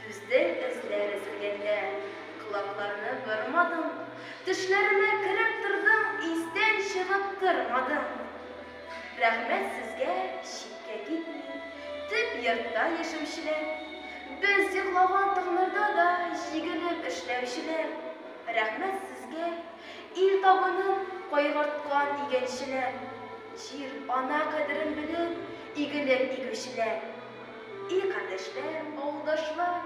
Түзде эзләр өзелгәндә. Колакларны бормадың. Төшләремә кереп тордың, Истән чыгып тормадың. Рәхмәт сезгә, читкә китми, Төп йортта яшәүчеләр. Без йоклаган таңнарда да Җигелеп эшләүчеләр. Рәхмәт сезгә, ил табынын Кайгырткан игенчеләр. Җир, ана кадерен белеп, Игелек игүчеләр. И кардәшләр, авылдашлар,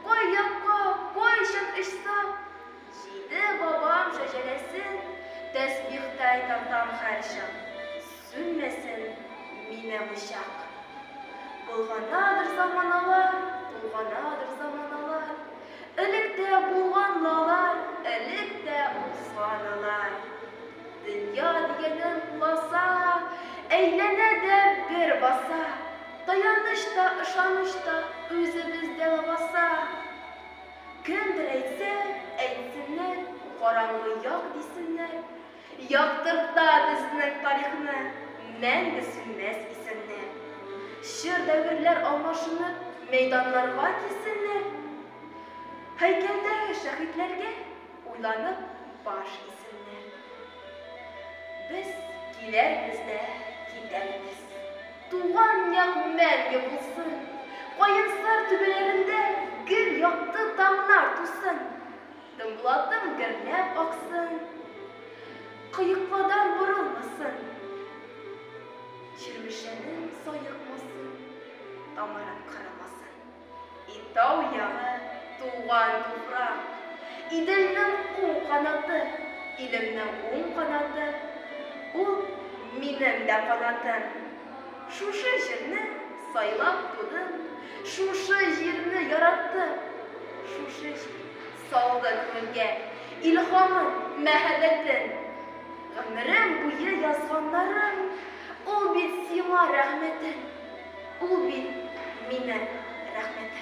кай якка, кайчан очсак, Җиде бабам шәҗәрәсен тәсбихтай тартам һәрчак. Сүнмәсен минем учак. Болганадыр заманалар, болганадыр заманалар, Элек тә булган лалар, элек тә узган алар. Дөнья дигәнең куласа, әйләнә дә бер баса. Таяныч та, ышаныч та үзебездә лабаса. Кемдер әйтсә, әйтсеннәр, караңгы як дисеннәр, яктырта безнең тарихны мәңге сүнмәс исемнәр. Чор дәверләр алмашынып, мәйданнарга килсеннәр, һәйкәлдәге шәһитләргә уйланып баш исеннәр. Без килербез дә китәрбез. Туган як мәңге булсын! Каенсар түбәләрендә гел якты таңнар тусын! Тынбулатым гөрләп аксын, кыекладан борылмасын, Чирмешәнем саекмасын, тамырым кырылмасын! И тау ягы, туган туфрак, Иделнең уң канаты, Илемнең уң канаты, Ул, минем дә канатым. Шушы җирне сайлап тудым, Шушы җирне яраттым, Шушы җир салды күңелгә Илһамын, мәһәббәтен. Гомерем буе язганнарым, Ул бит сиңа рәхмәтем. Ул бит мине, рәхмәт.